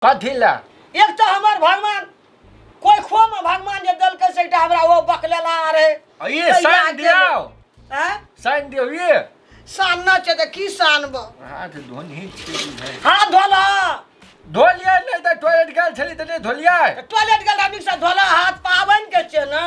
कथी लए एक तऽ हमर भगवान कोइ खोमे भगवान जे देलकै से एकटा हमरा ओ बकलेला रहै आ ये कहिया साइन गेलै? दियाओ आँय? साइन दियो ये सान न छै तऽ की सानब हाथ धोनी छी बुझाइ। हाथ धोला धोलियै नहि तऽ टॉयलेट गेल छली तऽ नहि धोलियै टॉयलेट गेल नीकसँ धोला हाथ पाबनि के छै ने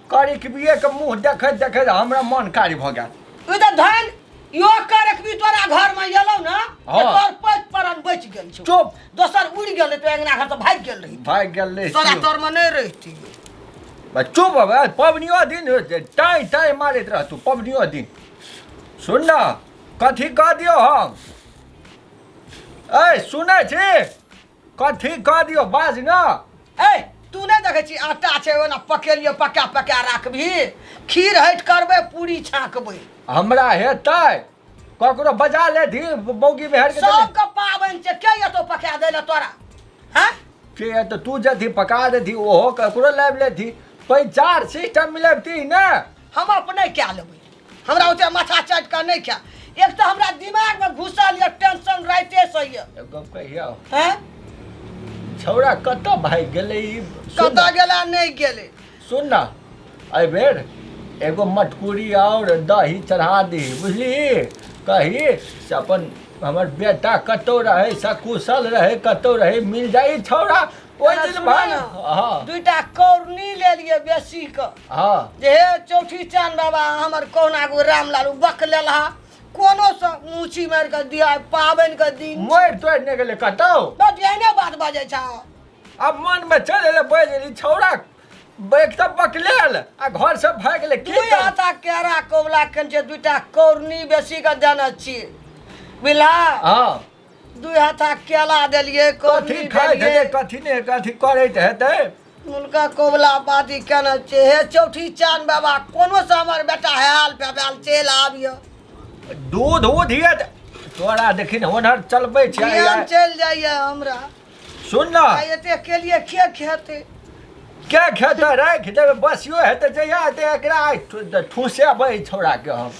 करी के बिये के मुंह देखैत देखैत हमरा मन कार्य भऽ गेल तू तऽ धन यो करक भी तोरा घर में एलौ ना तऽ हाँ। तोर पैत परन बच गेल छौ चुप दोसर उड़ गेल तो अंगना घर तो भाग गेल रही भाग गेल रे तोरा शिव। तोर में नहीं रहती बा चुप बा पबनियो दिन हो जे टाइ टाइ मारैत रह तू पबनियो दिन सुन न कथी कह दियौ हम ऐ सुनै छी कर ठीक कर दियो बाज ना ए तू नहीं देखे छी आटा छे ओना पकेलियो पका पका राखबी खीर हट करबे पूरी छाकबे हमरा हेतै ककरो बजा ले धी मौगी में हर के सब के पावन छे के ये तो पका देले तोरा हैं के ये तो तू जथी पका दे धी ओहो ककरो लाइव ले धी कोई चार सिस्टम मिले ती ना हम अपने क्या लेबे हमरा ओते माथा चाटि कऽ नहि खा एक तऽ हमरा दिमाग में घुसल ये टेंशन राइते से ये एगो गप कहिया हैं छौड़ा कतऽ भागि गेलै ई सुन कतऽ ना, गेला नहीं गेले सुन ना एहि बेर एगो मटकुरी और दही चढ़ा दी बुझली कही से अपन हमर बेटा कतौ रहे सकुशल रहे कतौ रहे मिल जाई छौड़ा ओहि दिन भाग हाँ दुईटा कौरनी ले लिए बेसी क हँ जे हे चौठी चान बाबा हमर कहुना गो रामलालू बक लेलहा कोनो से मूची मारि कऽ दिया पाबनि के दिन मोड़ि तोड़ि नहि गेलै कतौ बस एहने बात बजै छह आब मनमे चलि एलै बैल ई छौड़ा बैग तऽ बकले आयल आ घरसँ भागि गेलै की दुई करब? हाथा केरा कौला कन छै दुइटा कौरनी बेसी के देने छी बिला हँ दुई हाथा केला देलियै कथी कोबी खाइत देलियै हेतै कथी ने कथी करैत हेतै हुनका कबुला बादी केना छै हे चौठी चान बाबा कोनो से हमर बेटा हाल बेबाल चलि आबिय दूध उध ये तोरा देखिन होनहर चलबै छै ध्यान चलि जाइए हमरा सुन ना आ एते के लिए के खेते के खेते राखि देबै बसियो हेतै जहिया हेतै एकरा ठु- ठूसे बही छोड़ा के हम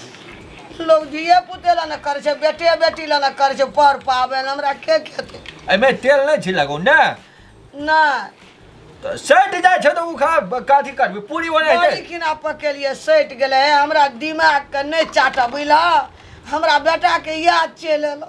लोग धिये पुते ला ने करे छै बेटे बेटी ला ने करे छै पर पावे ला हमरा के खेते एहिमे तेल नहि छी लगौ ने नहि तऽ सटि जाइ छै तऽ ओ खा कथी करबै पूरी बनै बड़ी छै किना पकेलिए सटि गेलै हे हमरा दिमाग के नहि चाटऽ बुझलह हमरा बेटा के याद चलि एलौ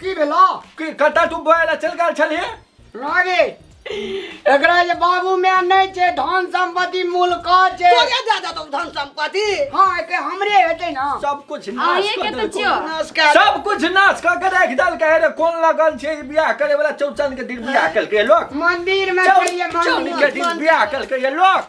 की भेलो की कतऽ तू बोए लए चलि गेल छलही रागे एकरा जे बाबू मे नहि छै धन संपत्ति मूल का छै तोरे दए देतौ धन संपत्ति हाँ एके हमरे हेतै ना सब कुछ नाश अहीं कऽ के तऽ देलकौ। छियौ। नाश कए देलकौ। सब कुछ नाश कऽ के राखि देलकै रे कोन लगन छै ई बियाह करे वाला चौचन के दिन बियाह केलकै लोक मंदिर में चौनी चलिए के मंदिर दिन बियाह केलकै ये लोक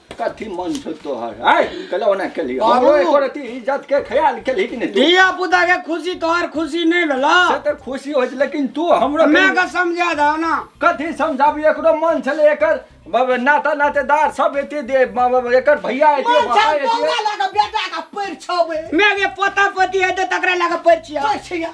कथी मन छौ तोहर आय कल ओना केली बाबू! हमरो एको रति इज्जत के ख्याल केली कि नहि तू? धिया पुता के खुशी तोहर खुशी नहीं भेला से तऽ खुशी होइ छै लेकिन तू हमरो मैं के समझा दो ना कथी समझाबी एकरो मन छलै एकर बाबा नाता नातेदार सब एते दे बाबा एकर भैया एते मन बाबा छल एते तोरा लगे बेटा का पैर छबे मैं के पोता पोती है तो तकरा लगा परिचिया पैर छिया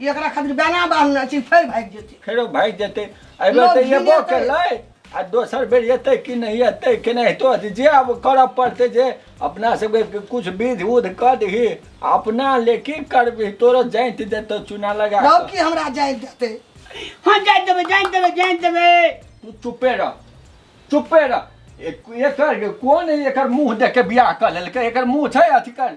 एकरा खातिर बेना बांधने छी फेर भागि जेतै फेरो भागि जेतै एहि बेर तऽ लोक एबो घिनेतै। केलै आ दोसर बेर एतै कि नहि एतै कि नहि तो जे आब करऽ पड़तै जे अपना सबके किछु विध उध कऽ दही आ अपना ले की करबही तोरो जाइत देतौ चूना लगा रौ कऽ। की हमरा जाय देतै हाँ जान देवे जान देवे जान देवे तू चुपे रह चुपे रह एक- एकर कोन एकर मुंह देख के बियाह कऽ लेलकै एकर मुंह छै अथी कर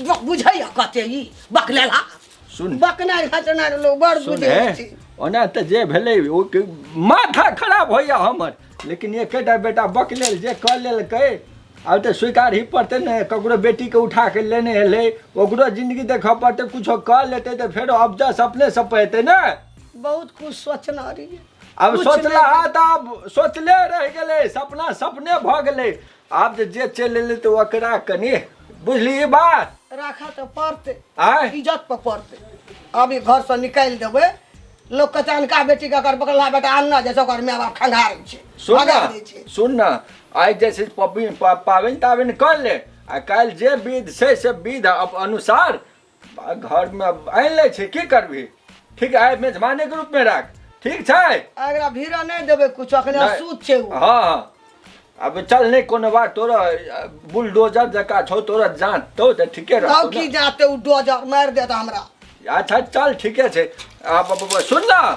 ब- बुझैया कते ई बकलेला सुन बकनाइ घटनाइ लोग बड़ सुन बुझै हे छै ओना तऽ जे भेलै ओ के माथा खराब होइया हमर लेकिन एकेटा बेटा बक लेल जे कऽ लेलकै आब तऽ स्वीकार ही पड़तै ने ककरो बेटीके उठा कऽ लेने एलै ओकरो जिन्दगी देखऽ पड़तै कुछो कऽ लेतै तऽ फेरो अबजस अपने सब पड़तै ने बहुत कुछ सोचना रहियै अब कुछ सोचला नहि। हा तऽ आब सोचले रहि गेलै सपना सपने भऽ गेलै आब जे जे चलि एलै तऽ ओकरा कनि बुझली ई बात राखऽ तऽ पड़तै आँय इज्जत पर पड़तै अभी घर से निकालि देबै लोक कहते अनका बेटी के अगर बगला बेटा अनना जाइ छै ओकर माय बाप खंगारै छै सुन भगा दै छै ने सुन ने आइ जे छै पबनी पा- पाबनि ताबनि कर ले आ काल्हि जे विध छै से विध अप- अनुसार घरमे आनि लै छै की करबही ठीक आइ मेजबानेके रूपमे राख ठीक छै एकरा भीड़ नहि देबै कुछ अखने नहि। सूत छै ओ हँ हँ अब चल नहि कोनो बात तोरा अ, बुलडोजर जकाँ छौ तोरा जाँच तो तऽ ठीके तब रहतौ की ने। जाते ओ डोजर मारि देत हमरा अच्छा चल ठीके छै आ, ब- ब- ब- सुन न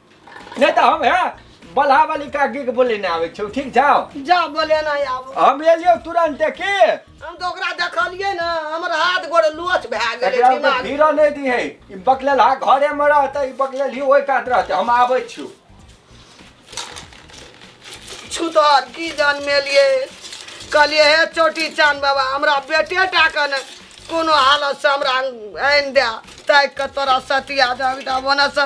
नहीं तो हम है बल्हा वाली काकी के बोले ना आवे छौ ठीक छौ जा बोले ना आब हम एलियो तुरंत की हम तो ओकरा देखलिए ना हमर हाथ गोड़ लोच भए गेलै एकरा में दिमाग धीरा नहीं दी है ई बकलेल हा घरे में रहते ई बकलेल ही ओई काट रहते हम आवे छु छुतहर की जान मेलिए कहलिए हे चोटी चान बाबा हमरा बेटे टा के ने कोनो हालत से हमरा आनि दे ताकि के तोरा सतिया जाबी टा बने से